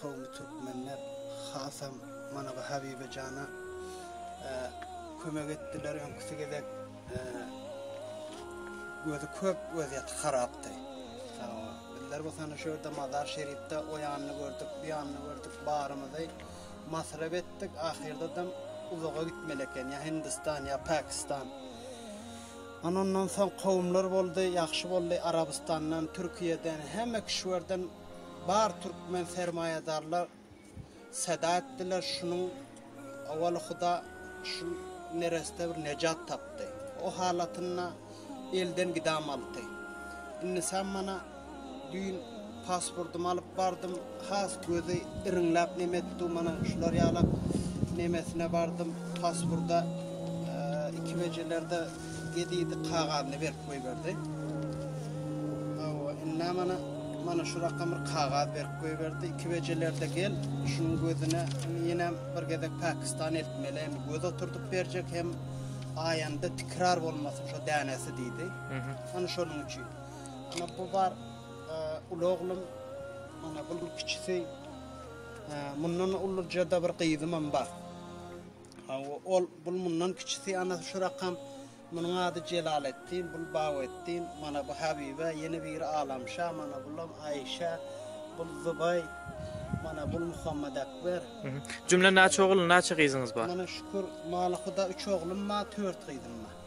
Kowumly türkmenler hasam mana bu Habibe jana kömek etdiler. Öňküsi gezek gözi köp wezýeti harapdy. Bizler bu sany şu ýerde Mazar Şerifde o ýanyny gördük, bu ýanyny gördük, barymyzy masrap etdik. Ahyrda da uzaga gitmeli eken, ýa Hindistan, ýa Pakistan. Ondan soň kowumlar boldy, ýagşy boldy. Arabystandan, Türkiýeden, hemme kişilerden Bar türkmen sermaýadarlar seda etdiler şunuň owaly huda şu nereste bir nejat tapdy. O halatynda elden gidamalty. Indi sen mana düýn pasportymy alyp bardym has gözi iriňläp neme etdi mana şular ýalak nemesine bardym pasporta iki bejelerde Gedidi kagazyny berip goýberdi. Hawa, indi mana mana şu rakam bir kagaz berip goýberdi. Iki bejelerde gel, şunuň gözüne ýene bir gezek Pakistan eltmeli. Hem göz oturdyp berjek hem aýanda tikrar bolmasyn şu dänesi diýdi. Ana şonuň üçin. Ana bu bar e, uly oglum, ana bu kiçisi. E, mundan uluja da bir gyzym hem bar. Hawa, ol, bul mundan kiçisi, ana, şu rakam, munuň ady Jelaleddin, bul Baweddin, mana bu Habibe, ýene biri Alamşa, mana bulam Aişa, bul Zubaý, mana bul Muhammadekber. Jümle näçe ogul, näçe gyzyňyz bar? Mana şükür, Malyhuda üç oglum bar, tört gyzym bar.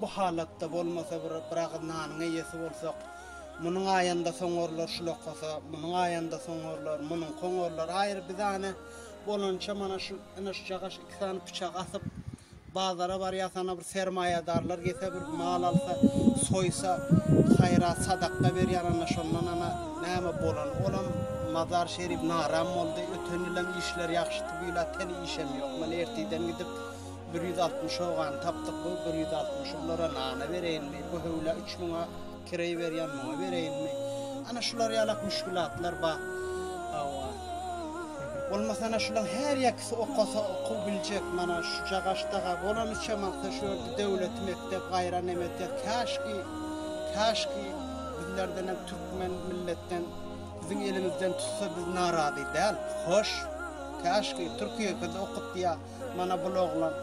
Bu halatda bolmasa bir bir agyz nanyň eýesi bolsak, munuň aýanda soňarlar şul okasa, munuň aýanda soňarlar, munuň koňarlar aýry bizane bolança mana şu ynyş-jagaş iki sany pyçak asyp bazara barýas hana bir sermaýadarlar gelse bir mal alsa, soýsa, haýrat sadakda berýär ana şondan ana näme bolany olam Mazar Şerif naram boldy, öten ýylam işler ýagşydy bu ýyla teli işem ýok mana ertiden gidip Bir ýüz altmyş ogany tapdyk bu bir ýüz altmyşy bulara nana bereýinmi bu höwla üç müňe kireý berýän muňa bereýinmi ana şular ýalak müşgülatlar bar hawa bolmasa ana şulaň her ýekisi okasa okuw biljek mana şu cagaşdaga bolanyça magta şu ýerde döwlet mekdep gaýran emete käşki käşki bizlerden hem türkmen milletden biziň elimizden tutsa biz narazy däl hoş käşki türkiýe biz okup diýär Mana bul oglan.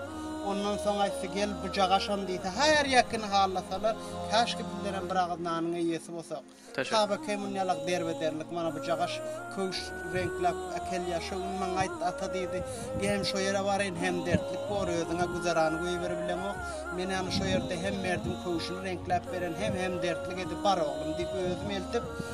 Ondan soň aýtdy, Gel, buja gaşam diýse, haýar ýekini hallasalar, käşki bizlerem bir agyz nanyň eýesi bolsak. Tabekeý muny ýalak derbederlik, mana buja gaş, köwüş reňkläp äkel ýa, şo gün maňa aýtdy, Ata diýdi, Gem şo ýere baraýyn, hem dertlik bor, özüň-ä güzerany goýberibileňok. Men ýaly şo ýerde hem merdiň köwşüni reňkläp beren, hem hem dertlik edi, bar oglum diýip, özüm eltip,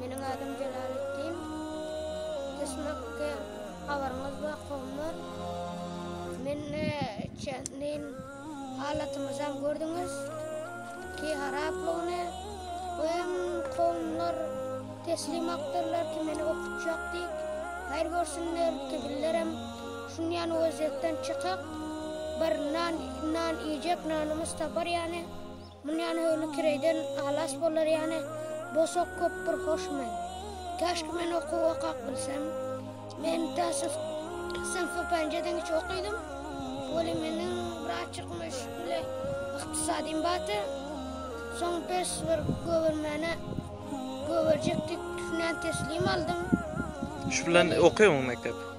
Meniň adym Jelaletdin. Düşnükli habaryňyz bar kowumlar. Meni çendin halatymyzam gördüňiz ki haraplygyny. Bu hem kowumlar teslim akdyrlar ki meni okutjak dik. Haýyr görsünler ki bizlerem şun ýan waziyetden çykak. Bir nan iýjek nanymyz tapar ýani. Mundan höwli kireýden halas bolar ýaly bosag köp bir hoş men. Käşki men okuw okap bilsem. Men täsiz synpy penjeden üç okydym. Weli meniň biraz çykmyş bile ykdysadym bardy. Soň bes bir gögermäne gögerjekdik düşünen teslim aldym. Üç bilen okaýaňmy mekdep?